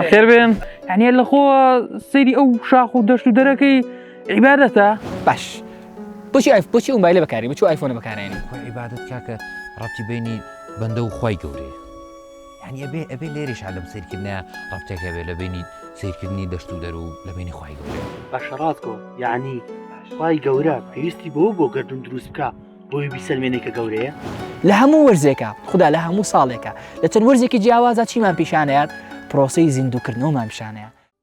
خێر بێن هەنێ لە خۆ سەیری ئەو شاخ و دەشت و دەرەکەی عیباەتە باش بچی ئایف بچی و مایلە بەکاری بچ ئایفۆنە بەکارێنی عیباەت کاکە ڕەتی بینی بەندە و خی گەورەیە یانی ئەبێ ئەبێ لێرەش هەر لەم سەیرکردنە ڕەبتێک هەبێ لە بینی سەیرکردنی دەشت و دەرو لە بینی خوای گەورە باشە ڕاست گۆ یعنی خوای گەورە پێویستی بەوە بۆ گردون دروست بکە بۆی بیسەلمێنێ کە گەورەیە لە هەموو وەرزێکە خدا لە هەموو ساڵێکە لە چەند وەرزێکی جیاوازە چیمان پیشانەیە پرۆسی زیندووکردنەوەمان پیشانەیە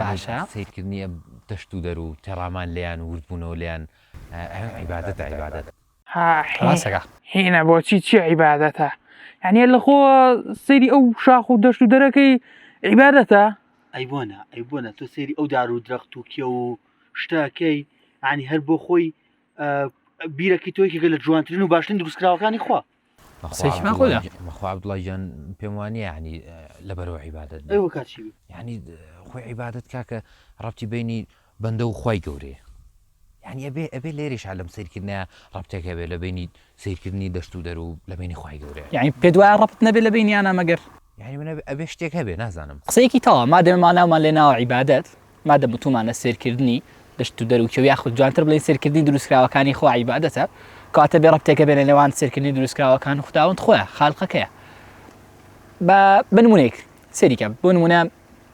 باشە سەیرکردنی ئەم دەشت و دەر و تێڕامان لێیان و وردبوونەوە لێیان ئەوێ عیبادەتە عیبادەت. ها حین ڕاستە کاک. حینە بۆچی چی عیبادەتە یانی اللە خۆ سەیری ئەو شاخ و دەشت و دەرەکەی عیبادەتە. ئەی بۆ نا ئەی بۆ نا تۆ سەیری ئەو دار و درەخت و کێو و شتە ئەکەی یانی هەر بۆ خۆی ئە بیرەکەی تۆ یەکێکە لە جوانترین و باشترین دروستکراوەکانی خوا بەخوا عبدوڵای جان پێم وانیە ینی لەبەرەوە عیبادت ینی خۆی عیبادت کاکە ڕەتی بینی بەندە و خی گەورەیە ینی ئەبێ ئەبێ لێریش لەم سیرکردە ڕەتێک هەبێ لە بینی سیرکردنی دەشت و دەرو لە بینی خی گەورەیە ینی پێ دوای ڕەت نەبێ لە بینیانە مەگەر ینی منە ئەبێ شتێک هەبێ نازانم قسەیەکی تەوا ما دێمانناومان لێ ناوە عیبادت مادەم وتومانە سەیرکردنی دەشت و دەر و کێو یاخود جوانتر بڵێین سەیرکردنی دروستکراوەکانی خوا عیبادەتە، کەواتە بێ ڕەبتێکە بێنە نێوان سەیرکردنی دروستکراوەکان و خوداوەند خۆی خالقەکەیە. با بە نمونەیەک سەیری کە، بۆ نمونە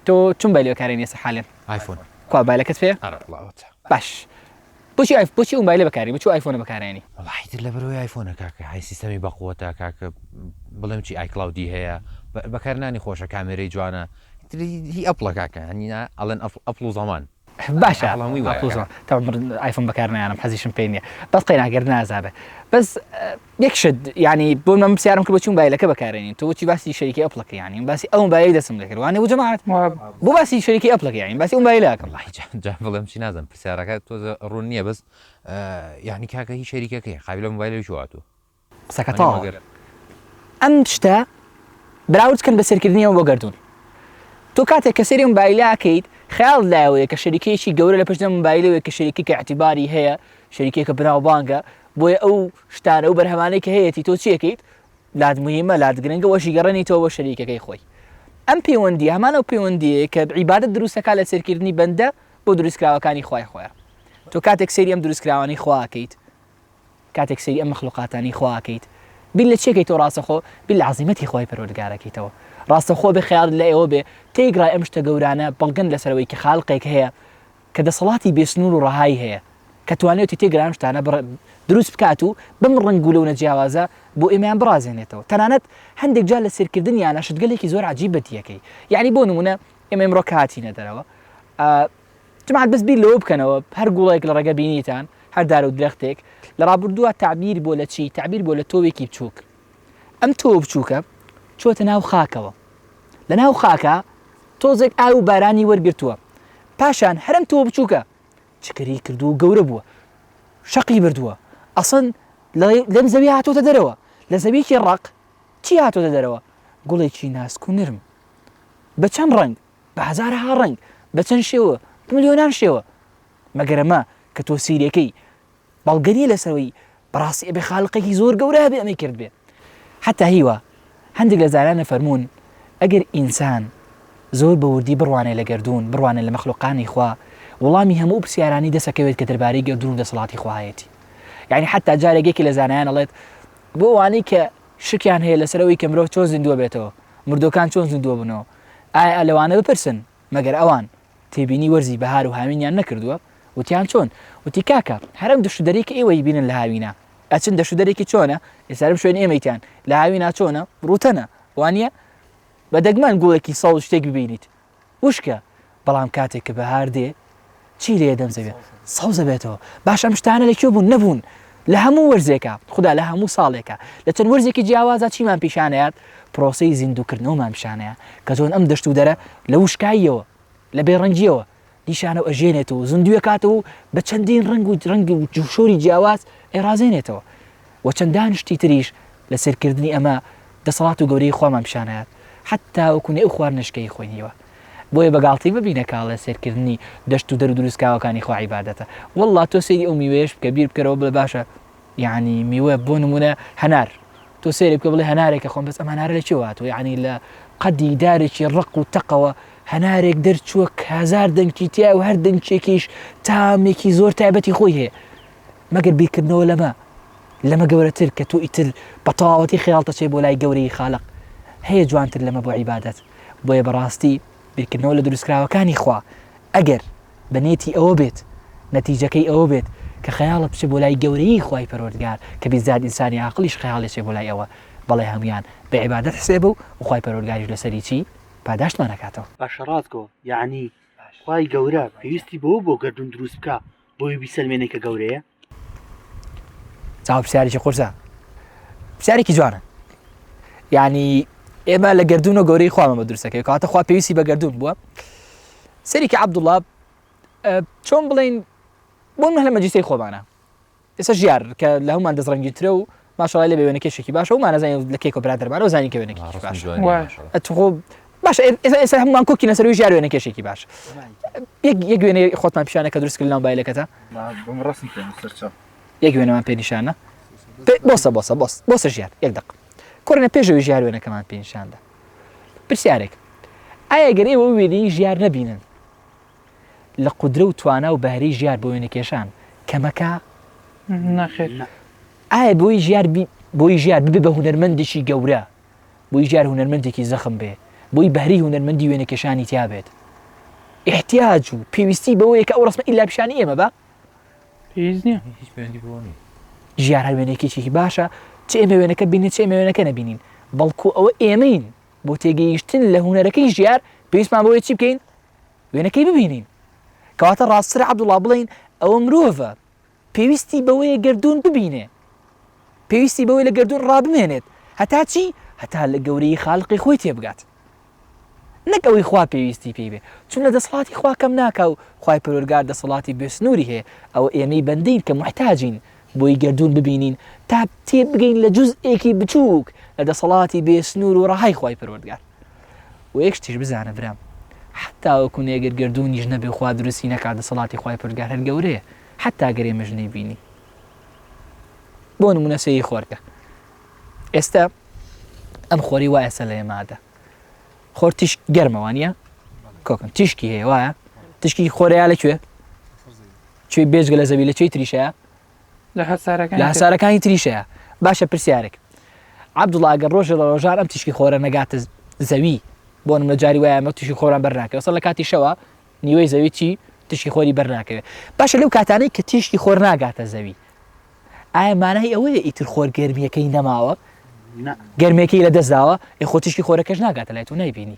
تۆ چون بایل بەکارێنی ئێستا حالەن؟ ئایفۆن. کوا بایلەکەت پێیە؟ ئەرە بڵاوە تە. باش. بۆچی ئایف بۆچی ئەو مایلە بەکاری بچوو ئایفۆنە بەکارێنی. وەڵا حیتر لە بەرەوەی ئایفۆنە کاکە های سیستەمی بەقوەتە کاکە بڵێم چی ئایکلاودی هەیە بەکارنانی خۆشە کامێرەی جوانە هی ئەپڵە کاکە هەنینا ئەڵێن ئەپڵ و زەمان باشە ئەڵەموی وایە تا ئایفۆن بەکارنیانم حەزیشم پێ نیە بەس قەینا گەر نازانێت بەس یەک شت یعنی بۆ من پرسیارم کرد بۆ چی مۆبایلەکە بەکارێنین تۆ بۆچی باسی شەریکی ئەپڵەکە یعنی باسی ئەو مۆبایلی دەستم لێ کرد وانە بوو جەماعەت بۆ باسی شەریکی ئەپڵەکە یعنی باسی ئەو مۆبایلە ئەکەم وەڵاهی جا جا بڵێم چی نازم پرسیارەکە تۆزە ڕوون نییە بەس یعنی کاکە هی شەریکەکەی قابلە مۆبایلەوەی هاتووە قسەکە تاڵ مەگەر ئەم شتە براورد کەن بە سەرکردنیەوە بۆ گردون تۆ کاتێک کە سەری مۆبایلەکەیت خیال لایەوەیە کە شەریکەیەکی گەورە لە پشت مۆبایلەوەی کە شەریکی کە اعتباری هەیە شەریکێکە بناوبانگە بۆیە ئەو شتانە و بەرهەمانەی کە هەیەتی تۆ چیەکەیت لات موهیمە لات گرنگە وەشی گەڕێنیتەوە بۆ شەریکەکەی خۆی ئەم پەیوەندیە هەمان ئەو پەیوەندیەیە کە عیبادە دروستەکە لە سێرکردنی بەندە بۆ دروستکراوەکانی خوای خۆیان تۆ کاتێک سەیری ئەم دروستکراوانی خواکەیت کاتێک سەیری ئەم مخلوقاتانی خواکەیت بیر لە چێکەی تۆ ڕاستەخۆ بیر لە عزیمەتی خۆی پەرۆردگارەکەیتەوە ڕاستەخۆ بێ خیال لە ئێوە بێ تێگرای ئەم شتە گەورانە بەڵگەن لەسەرەوەی کە خاڵقێک هەیە کە دەسەڵاتی بێسنوور و ڕەهایی هەیە کە توانیوێتی تێکرا ئەم شتانە بڕ دروست بکات و بەم ڕەنگ و لەونە جیاوازە بۆ ئێمەیان بڕازێنێتەوە تەنانەت هەندێک جار لە سێرکردنیانە شتگەلێکی زۆر عەجیب بەدیەکەی یعنی بۆ نمونە ئێمە ئمڕۆ کاتینە دەرەوە جماعەت بەس بیر لەوە بکەنەوە هەر گوڵێک لە ڕێگە بینیتان هەر دار و درەختێک لە ڕابردووە تعبیر بۆ لە چی تعبیر بۆ لە تۆوێکی بچووک ئەم تۆ بچووکە چۆتە ناو خاکەوە لە ناو خاکا تۆزێک ئاو و بارانی وەرگرتووە پاشان هەرم تۆ بچووکە چکەری کردو و گەورە بووە شەقی بردووە ئەسڵەن لەم زەوی هاتۆتە دەرەوە لە زەویکی ڕق چی هاتۆتە دەرەوە گوڵێکی ناسک و نرم بە چەند ڕنگ بە هزارها ڕنگ بە چەند شێوە ملیۆنان شێوە مەگەرەمە کە تۆ سیرەکەی بەڵگە نیە لەسەوەی بەڕاستی ئەبێ خالقێکی زۆر گەورە هەبێ ئەمەی کردبێ حتا هیوا هەندێک لە زارانە فەرموون ئەگەر ئینسان زۆر بە وردی بڕوانێ لە گردردون بڕوانێ لە مەخلوقانی خوا وڵامی هەموو پرسیارانی دەسەکەوێت کە دەربارەی گردردون و دەسەڵاتی خواهەتی یعنی حتا جارێکێکی لە زانایان ئەڵێت بۆ ئەوانەی کە شکیان هەیە لەسەرەوەی کە مرۆڤ چۆن زیندووە بێتەوە مردوەکان چۆن زیندووە بنەوە ئایا لەوانە بپرسن مەگەر ئەوان تێبینی وەرزی بەهار و هاوینیان نەکردووە؟ وتیان چۆن؟ وتی کاکە هەر ئەم دەشت و دەرەی کە ئێوە ئەیبینن لە هاوینا ئەچن دەشت و دەرێکی چۆنە؟ ئێستا بم شوێنی ئێمەیتان لە هاوینا چۆنە؟ ڕووتەنە وانیە؟ بە دەگمەن گوڵێکی سەوز شتێک ببینیت وشکە بەڵام کاتێک کە بەهار دێ چی لێ دەم زەوێ سەوزە بێتەوە باش ئەم شتانە لە کوێ بوون نەبوون لە هەموو وەرزێکە خدا لە هەموو ساڵێکە لە چەند وەرزێکی جیاوازە چیمان پیشانەیات پرۆسی زیندوکردنەوەمان پیشانەیە کە زۆن ئەم دەشت و دەرە لە وشکاییەوە لە بێڕەنگیەوە دیشانە و ئەژێنێت و زندویەکاتەوە و بە چەندین ڕنگ و ڕەنگی و جوشۆری جیاواز ئێرازێنێتەوە وە چەندان شتی تریش لە سەیر کردنی ئەمە دەسەڵات و گەورەیی خوامان پیشان ئەیات حەتا وەکو نێ ئەو خواردنەشکەی خۆی نیوە بۆیە بە گاڵتەی مەبینە کە ئەڵێ سەیر کردنی دەشت و دەرو دروسکاوەکانی خوا عیبادەتە وەڵا تۆ سەیری ئەو میوەیەش بکە بیر بکەرەوە بڵێ باشە یەعنی میوە بۆ نمونە هەنار تۆ سەیری بکە بڵێ هەنارێکە خۆم بەس ئەم هەنارە لە چێوە هاتووە یەعنی لە قەدی دارێکی ڕەق و تەقەوە هەنارێک دەرچووە کە هەزار دەنکی تیا و هەر دەنکێکیش تامێکی زۆر تایبەتی خۆی هەیە مەگەر بیرکردنەوە لەمە لەمە گەورەتر کە تۆ ئیتر بە تەواوەتی خەیاڵتەچێ بۆ لای گەورەی خالق هەیە جوانتر لەمە بۆ عیبادەت بۆیە بەڕاستی بیرکردنەوە لە دروستکراوەکانی خوا ئەگەر بە نێتی ئەوە بێت نەتیجەکەی ئەوە بێت کە خەیاڵت بچێ بۆ لای گەورەی خوای پەروەردگار کە بیزات ئینسانی عاقلیش خەیاڵێچێ بۆ لای ئەوە بەڵێ هەمویان بە عیبادەت حسێبە و خوای پەروەردگاریش لەسەری چی پاداشتمان ئەکاتەوە. باشە ڕاست گۆ یەعنی خوای گەورە پێویستی بەوە بۆ گەردوون دروست بکا بۆی بیسەلمێنێ کە گەورەیە چاو پرسیارێکی قورسە پرسیارێکی جوانە یعنی ئێمە لە گردون و گەورەی خوامان بە درستەکەی کاتە خوا پێویستی بە گردون بووە سەرێکی عبدوڵا چۆن بڵین بۆن هەلە مەجیسی خۆمانە ئێستا ژیار کە لە هەمان دەستڕەنگی ترە و ماشەڵای لێ بێوێنە کێشێکی باشە و مانەزانین لە کێکۆ برادرمانەوە زانین کە وێنەکی آه، باش ئەتخۆ باش ئێستا هەمووان کۆکی نەسەروی ژار وێنە کێشێکی باش یەک وێنێ خۆتمان پیشانە کە دروست کرد ناو بایلەکەتە یەک وێنەمان پێ نیشانە بۆسە بۆسە بۆس بۆسە ژیار یەک دق کۆرنە پێشەوەی ژیار وێنەکەمان پێنیشاندا پرسیارێک ئایا گەر ئێوە وێنی ژیار نەبینن لە قودرە و توانا و بەهرەی ژیار بۆ وێنەکێشان کەمەکە؟ نەخێر. ئایا بۆی ژیار بۆی ژیار ببێ بە هونەرمەندێکی گەورە بۆی ژیار هونەرمەندێکی زەخم بێ بۆی بەهری هونەرمەندی وێنەکێشانی تیا بێت احتیاج و پێویستی بەوەیە کە ئەو ڕسمە ئیلا پیشانی ئێمە بە پێویست نییە هیچ پێوەندی بۆ نیە ژیار هەر وێنەکێکێکی باشە چ ئێمە وێنەکە بینین چ ئێمە وێنەکە نەبینین بەڵکو ئەوە ئێمەین بۆ تێگەیشتن لە هوەرەکەی ژیار پێویستمان بۆیە چی بکەین وێنەکەی ببینین کەواتە ڕاستترە عەبدوڵڵا بڵێین ئەوە مرۆڤە پێویستی بەوەیە گردوون ببینێ پێویستی بەوەی لە گردوون ڕابمێنێت هەتا چی هەتا لە گەورەی خاڵقی خۆی تێبگات نەک ئەوەی خوا پێویستی پێی بێ چون لە دەسڵاتی خوا کەم ناکە و خی پرۆرگار دەسەڵاتی بێسنووری هەیە ئەوە ئێمەی بەندین کە محتاجین بۆی گردوون ببینین تا تێ بگەین لە جزئێکی بچووک لە دەسەڵاتی بێسنوور و ڕەهای خی پرۆردگار وەیەک شتیش بزانە برام حەتا وەکو نێگر گەردوونیش نەبێ خوا دروستی نەکا دەسەڵاتی خوای پەروەردگار هەر گەورەیە حەتا گەر ئێمەش نەیبینی بۆ نمونە سەیری خۆرکە ئێستا ئەم خۆری وایە سە لە ئێمادە خۆر تیش گەرمەوانە کۆکن تیشکی هەیە وایە تشکی خۆرەیە لەکوێ کوێ بێژگە لە زەوی لە چی تریشە لە هەسارەکانی تریش هەیە. باشە پرسیارێک عەبدوڵا ئەگەر ڕۆژێ لە ڕۆژان ئەم تیشکی خۆرە نەگاتە زەوی بۆ نمونە جاری وایە ئەمە تیشکی خۆران بەرناکەوێت ئەسڵ لە کاتی شەوە نیوەی زەوی چی تیشکی خۆری بەرناکەوێت باشە لەو کاتانەی کە تیشکی خۆر ناگاتە زەوی ئایا مانای ئەوەیە ئیتر خۆر گەرمیەکەی نەماوە گەرمێکی لە دەستداوە یخۆ تیشکی خۆرەکەش ناگاتە لای تو نایبینی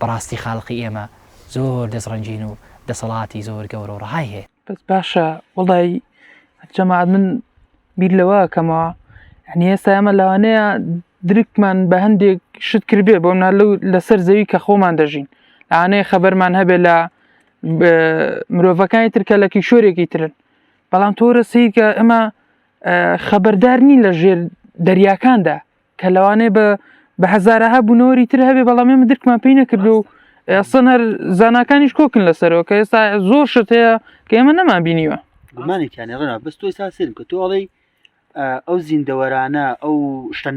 بەڕاستی خالقی ئێمە زۆر دەست ڕەنجین و دەسەڵاتی زۆر گەورە و ڕەهای هەیە. بەس باشە وەڵای جەماعەت من بیر لەوە کەمەوە یعنی ئێستا ئێمە لەوانەیە درکمان بە هەندێک شت کردێ بۆ منە لەو لەسەر زەوی کە خۆمان دەژین ئانەیە خەبەرمان هەبێ لە مرۆڤەکانی ترکە لە کیشۆرێکی ترن بەڵام تۆرە سیکە ئەمە خەبەردار نین لە ژێر دەریاکاندا کە لەوانەیە بە بە هەزارەها بوونەوەری تر هەبێ بەڵام ئێمە درکمان پێی نەکردو و ئەسەن هەر زانکانیش کۆکن لەسەرەوە کە ئێستا زۆر شت هەیە کە ئێمە نەمان بینیوە گومانێکیان ڕنا بەس تۆی سا سرم کە تۆڵی ئەو زیندەوەرانە ئەو شتە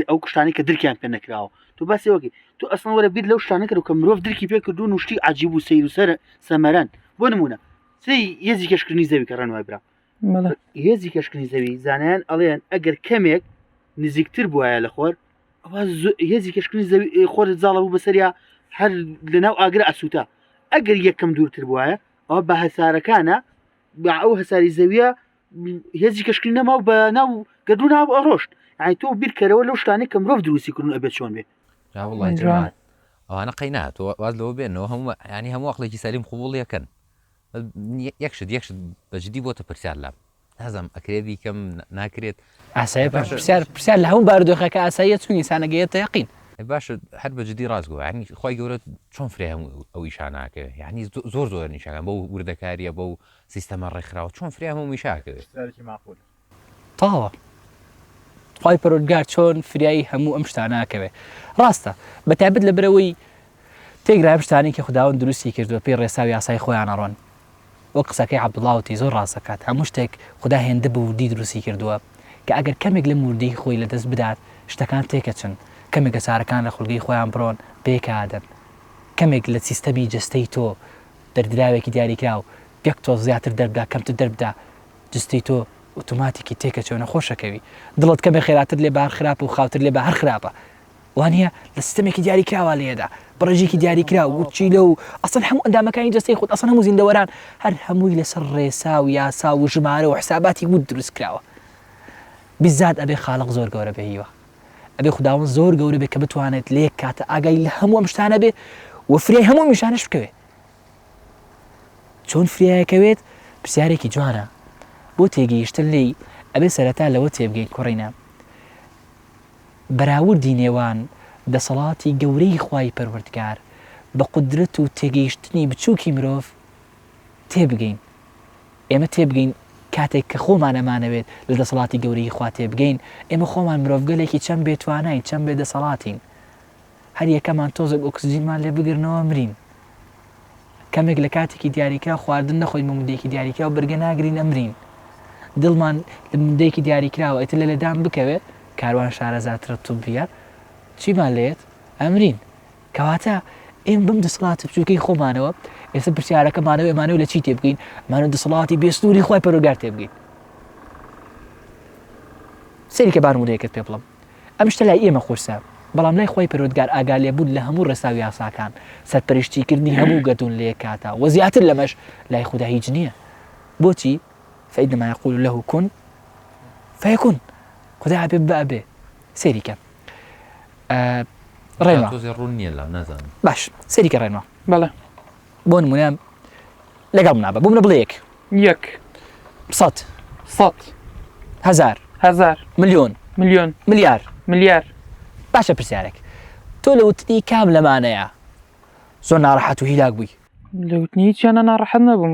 ئەو کوشتانی کە درکیان پێ نەکراوە تو باسی وەکی تو ئەسڵ وەرە بیر لەو شتانە کرد کە مرۆڤ درکی پێ کردو نوشتی عجیب و سیر و سەر سەمەرەن بۆ نمونە سی یەزی کەشکردنی زەوی کە ڕەنوای برا هێزی کەشکردنی زەوی زانایان ئەڵێن ئەگەر کەمێک نزیکتر بواە لە خۆر هێزی کەشکردنی زەوی خۆر زاڵە بوو بەسەریا هەر لەناو ئاگر ئەسووتە ئەگەر یەکەم دوورتر بواە ئەو بە هەسارەکانە بە ئەو هەساری زەویە هێزی کەشکری نەما و بە ناو گەدو ناو ئەڕۆشت ئای تۆ بیرکەرەوە لەو شتانی کە مرۆڤ دروستی کردن ئەبێت چۆن بێ ئەوانە قەی ناتۆ واز لەوە بێنەوە هەموو ینی هەموو وەقلێکی سەریم قوبوڵ یەکەن یەک شت یەک شت بە جدی بۆتە پرسیار لام نازم ئەکرێ بیکەم ناکرێت ئاسایی پرسیار پرسیار لە هەموو بارودۆخەکە ئاساییە چونی سانەگەیە تەقین باش هەر بە جدی ڕاست گووە ینی خی گەورە چۆن فرێ هەموو ئەو ئیشاناکە ینی زۆر زۆر نیشانە بە وردەکاریە بە و سیستەمە ڕێکخراوە چۆن فرێ هەموو میشاکەوێت تاوە خوای پەرۆردگار چۆن فریایی هەموو ئەم شتاناکەوێ ڕاستە بە تابت لە برەوەی تێگرایم شتانی کە خداون دروستی کردووە پێی ڕێسا و یاسای خۆیانەڕۆن وە قسەکەی عبدڵاوتی زۆر ڕاستەکات هەموو شتێک خدا هێندە بە وردی دروستی کردووە کە ئەگەر کەمێک لە موردەی خۆی لە دەست بدات شتەکان تێکەچن کەمێک لە چارەکان لە خولگەی خۆیان بڕۆن بێکادن کەمێک لە سیستەمی جستەی تۆ دەردراوێکی دیاریکراو گەکتۆ زیاتر دەردا کەمتر دەردا جستی تۆ ئوتوماتیکی تێکەچۆ نەخۆشەکەوی دڵت کەمێ خێراتر لێ بار خراپە و خاوتر لێ بە هەر خراپە وانە لە سیستمێکی دیاری کراوە لێدا بڕێژێکی دیاری کرا و چی لە و ئەسن هەموو ئەندامەکانی جستی خود ئەسن هەموو زیندەوەران هەر هەمووی لەسەر ڕێسا و یاسا و ژمارە و حساباتی بود دروست کراوە بزات ئەبێ خاڵق زۆر گەورە بهیوە ئەبێ خداون زۆر گەورە بێ کە بتوانێت لێک کاتە ئاگای لە هەموو ئەم شتانە بێ وفرێ هەموو میشانش بکەوێت چۆن فریایەکەوێت پرسیارێکی جوانە بۆ تێگەیشتن لێی ئەبێ سەرەتا لەوە تێبگەین کوڕینە بەراوردی نێوان دەسەڵاتی گەورەی خوای پەروەردگار بە قدرەت و تێگەیشتنی بچووکی مرۆڤ تێبگەین ئێمە تێبگەین کاتێک کە خۆمان ئەمانەوێت لە دەسەڵاتی گەورەی خوا تێبگەین ئێمە خۆمان مرۆڤگەلێکی چەند بێتوانین چەند بێ دەسەڵاتین هەر یەکەمان تۆزێک ئۆکسجینمان لێ بگرنەوە مرین. کەمێک لە کاتێکی دیاریکراو خواردن نەخۆین بۆ مدەیەکی دیاریکراو بەرگە ناگرین ئەمرین. دڵمان لە مدەیەکی دیاریکراوە ئیتر لە لێدان بکەوێ کاروان شارەزاترە توبیە چیمان لێت ئەمرین. کەواتە ئێم بم دەسەڵاتی بچووکەی خۆمانەوە ئێستا پرسیارەکەمانەوە ئێمانەوە لە چی تێبگەین مانە دەسەڵاتی بێستوری خۆی پەرۆگار تێبگەین سەری کە بانمونەیەکت پێ بڵم ئەم شتە لای ئێمە قورسە، بەڵام لای خوای پەروەردگار ئاگالێبوون لە هەموو ڕێسا و یاساکان، سەرپەرشتیکردنی هەموو گەردوون لە یەک کاتا، وە زیاتر لەمەش لای خودا هیچ نییە. بۆچی؟ فإنما يقول له کن فیکون خودا ئەبێ ببە ئەبێ. سەیری کە. ڕێنما. باش سەیری کە ڕێنما. بەڵێ. بۆ نمونە لەگەڵ منا بە بمە بڵێ یەک یەک سەد سەد هزار هزار ملیۆن ملیۆن ملیار ملیار باشە پرسیارێک تۆ لە وتنی کام لەمانەیە زۆر ناڕەحەت و هیلاک بووی لە وتنی چیانە ناڕەحەت نەبووم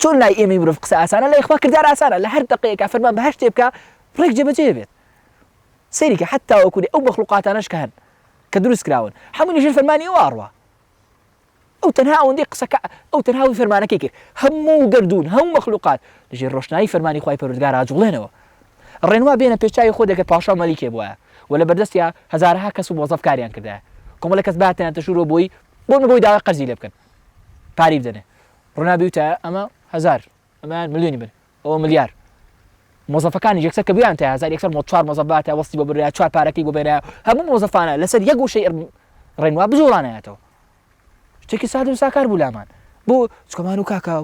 چۆن لای ئێمەی مرۆڤ قسە ئاسانە لای خوا کردار ئاسانە لە هەر دەقەیەکا فەرمان بە هەر شتێ بکا ڕێک جێبەجێ ئەبێت سەیری کە حەتا وەکوونی ئەو مەخلوقاتانەش کە هەن کە دروست کراون هەمووی لەژێر فەرمانی ئەو ئاڕوا ئەو تەنها ئەوەندەی قسەکە ئەو تەنها وی فەرمانەکەی کرد هەموو گەردوون هەموو مەخلوقات لەژێر ڕۆشنایی فەرمانی خوای پەروەردگار ئاجوڵێنەوە ڕێنوا بێنە پێش چاوی خۆ دەکە پاشا مەلیکێ بووە و لە بەردەستیا هەزارەها کەس و مۆزەف کاریان کردایە کۆمەڵە کەس باتیان تەشورەوە بۆی بۆ بۆی داوای قەرزی لێ بکەن پارەی بدەنێ ڕونا بیوتایە ئەمە هەزار ئەمەیان ملیۆنی بن ئەوە ملیار مۆزەفەکانی یەکسەر کە بیان تا هزار یەکسەر مۆ چوار مۆزە باتە وەستی بۆ برا چوار پارەکەی بۆ بێنە هەموو مۆزەفانە لەسەر یەک وشەی ڕێنوا بجوڵانایەتەوە شتێکی سادم ساکار بوو لامان بۆ چکەمان و کاکە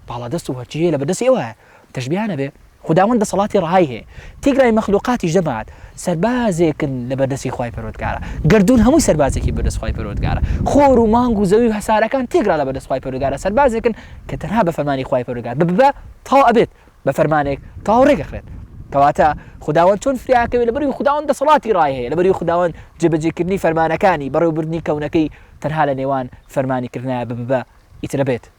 باڵا دەست و هەرچی هەیە لە بەدەستی ئەوە تەشبیه نەبێ خوداوەند دەسەڵاتی ڕەهای هەیە تیگلای مەخلوقاتی جەماعەت سەربازێکن لەبەر دەستی خوای پەروەردگارا گەردوون هەمووی سەربازێکی بەردەست خوای پەروەردگارە خۆر و مانگ و زەوی و هەسارەکان تیگرا لەبەر دەست خوای پەروەردگارا سەربازێکن کە تەنها بە فەرمانی خوای پەروەردگار بە بە تاو ئەبێت بە فەرمانێک تاو ڕێک ئەخرێت کەواتە خوداوەند چۆن فریاکەوێ لەبەروی خوداوەند دەسەڵاتی ڕای هەیە لەبەروی خوداوەند جێبەجێ کردنی فەرمانەکانی بەڕێوبردنی کەونەکەی تەنها لە نێوان فەرمانی کردنایە بە بە ئیترەبێت